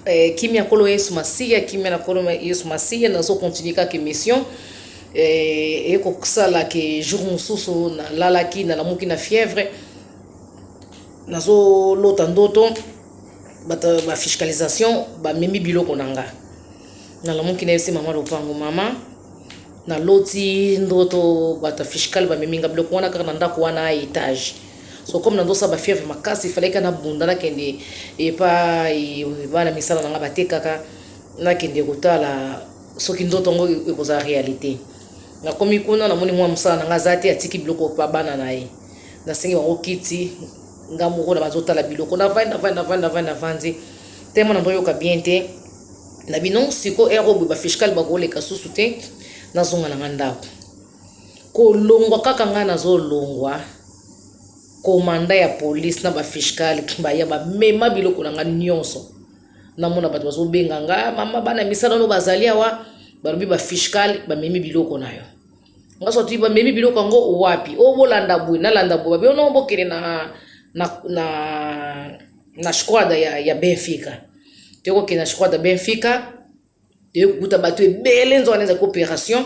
Eh, kimia kolo yesu masiya kimia na kolo yesu masiya nazo continue kaka émission eh, eye kosala ke jour mosusu nalalaki nalamuki na fièvre nazolota ndoto bato bafiscalisation bamemi biloko na nga nalamuki nayebisi mama lopango mama naloti ndoto bato ya fiscale bamemi nga biloko wana kaka na ndako wana etage so comme nazo sala ba fièvre makasi il fallait kana bunda na kende epa bana misala nanga batekaka na kende kotala soki nzoto yango ekozala réalité nakomi kuna namoni mwa mosala nanga aza te atiki biloko pa bana na ye nasengi bango kiti nga moko na bazotala biloko navandi navandi navandi navandi navandi tellement nazoyoka bien te na bino siko ero boye bafishkale bakoleka susu te nazonga na nga ndako Kolongwa kaka ngai nazolongwa komanda ya police na bafishkale baya bamema biloko na ngai nyonso namona bato bazobenga nga mama bana misala no bazali awa balobi bafishkale bamemi biloko na yo nga soti bamemi biloko yango wapi o oh, bolanda boye nalanda boye babi ono oh, bokende na, na, na, na squada ya, ya benfica tokokende na squada benfica toye kokuta bato ebele nzoka na ezalaki operation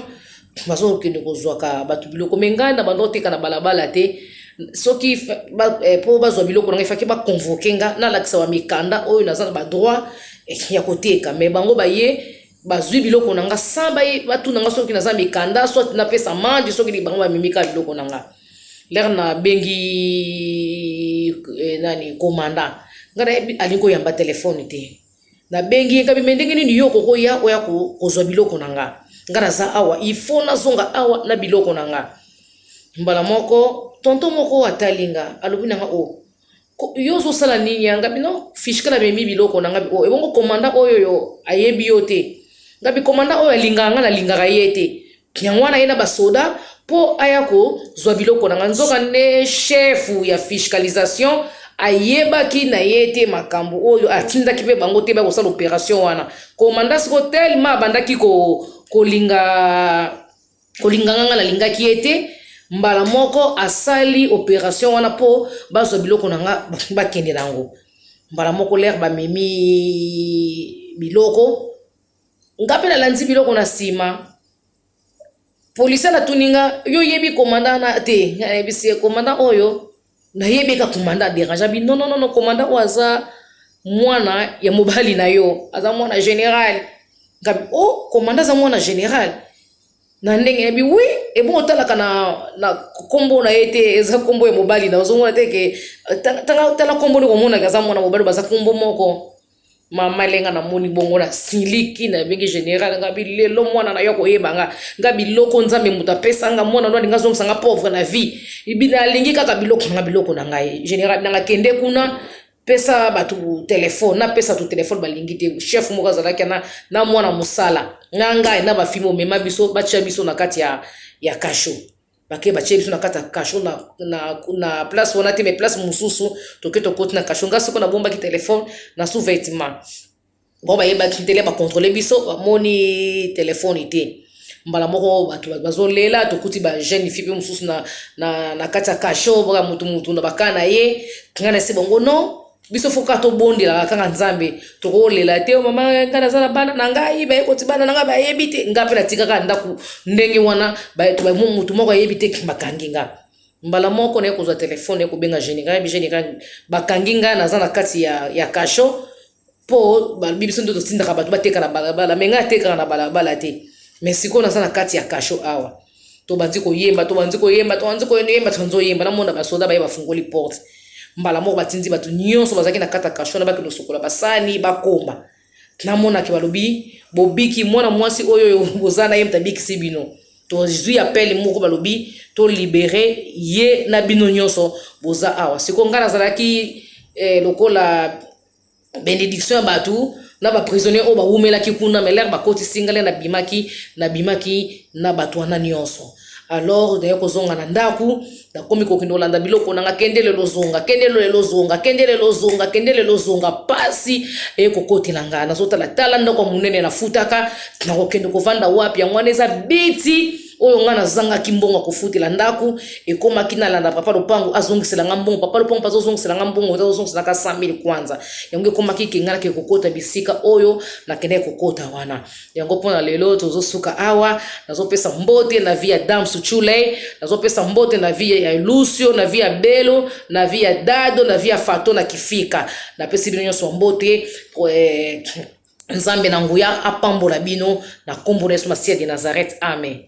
bazo kokende kozwaka bato biloko me ngai na banda oteka na balabala te soki mpo eh, bazwa biloko na ngai faki baconvoke nga nalakisa bamikanda oyo naza na badroit eh, ya koteka me bango baye bazwi biloko na nga sans baye batuna nga soki naza mikanda soit napesa manje soki bango bamimika biloko na nga lere nabengi eh, nani komanda ngai alingi koyamba telefone te Nabengi ye nkabi, mais ndenge nini yo okoki oya, oya kozwa biloko na nga? Nga naza awa, il faut nazonga awa na biloko na nga. Mbala moko, tonton moko atali nga, alobi na nga, oh, yo ozosala nini ya ngabi no fishkala amemi biloko na ngabi o oh, ebongo komanda oyo yo ayebi yo te ngabi komanda oyo alingaka nga nalingaka ye te Yango wana aye na basoda mpo aya kozwa biloko na ngai. Nzokande, shefu ya fiscalisation ayebaki na ye te makambo oyo, atindaki mpe bango te baya kosala operation wana. Komanda siko telema abandaki ko, kolinga kolinga ngai, ngai nalingaki ye te, mbala moko asali operation wana mpo bazwa biloko na ngai bakende na yango. Mbala moko lere bamemi biloko Nga pe na landi biloko na sima. Polisien atuni nga, yo oyebi commandant na te? Nga na yebisi ye commandant oyo na yebi ka commandant aderanja bi non non non commandant oyo aza mwana ya mobali na yo aza mwana general nga bi oh commandant aza mwana general na ndenge na bi oui ebongo otalaka na, na kombo na ye te eza kombo ya mobali na ozomona te ke tala kombo nde komonaka aza mwana mobali baza kombo moko mama elenga namoni bongo na siliki na ebenge general nga bilelo mwana na yo akoyeba nga nga biloko nzambe moto apesa nga mwana no alinga azongisa nga pauvre na vie nalingi kaka biloko nga biloko na ngai general nanga kende kuna pesa bato telefone napesa to telefone balingi te chef moko azalaki na, na mwana mosala na ngai na bafimi omema biso batya biso na kati ya, ya kasho bake batye biso na kati ya kasho na, na, na place wana te me place mosusu toke tokoti na kasho ngai soko nabombaki telefone na sous vêtement bango bayebaki ntele bakontrole biso bamoni telefone te mbala moko bato bazolela tokuti bajeune fi mpe mosusu na, na, na kati ya kasho baka motu motu na baka na ye ngai nasi bango non biso fo kaka tobondelaka kaka nzambe tokolela te oh, mama ngai naza na bana na ngai baye koti bana na ngai bayebi te ngai mpe natikaka ndako ndenge wana motu moko ayebi te bakangi ngai mbala moko naye kozwa telefone naye kobenga général yebi général bakangi ngai naza na kati ya, ya kasho mpo balobi biso nde totindaka bato bateka na balabala me ngai atekaka na balabala te me sikoyo naza na kati ya kasho awa tobandi koyemba tobandi koyemba tobandi koyemba tobandi koyemba namona basoda baye bafungoli porte mbala moko batindi bato nyonso bazalaki na kata kasho na bakende kosokola basani bakomba namonaki balobi bobiki mwana mwasi oyo boza na ye moto abikisi bino tozwi apele moko balobi tolibere ye na bino nyonso boza awa sikoyo ngai nazalaki eh, lokola benediction ya bato na ba prisonnier oyo bawumelaki kuna mais lere bakotisi ngai lere nabimaki nabimaki na bato wana nyonso alors naye kozonga na ndako nakomi kokende kolanda biloko nanga kende lelo zonga kende lelo zonga kende lelo zonga kende lelo zonga pasi eye kokotela ngai nazotala tala ndako ya monene nafutaka nakokende kovanda wapi yango wana eza biti oyo ngai nazangaki mbongo ya kofutela ndako ekomaki nalanda papa lopango azongisela ngai mbongo papa lopango mpe azozongisela ngai mbongo azozongisela ngai 100000 kwanza yango ekomaki ke ngai nakee kokota bisika oyo nakendaki kokota wana yango mpo na lelo tozosuka awa nazopesa mbote na vie ya dame suchuley nazopesa mbote na vie ya lucio na vie ya belo na vie ya dado na vie ya fato na kifika napesi bino nyonso mbote eh, nzambe na nguya apambola bino na nkombo na yesu masiya de nazareth amen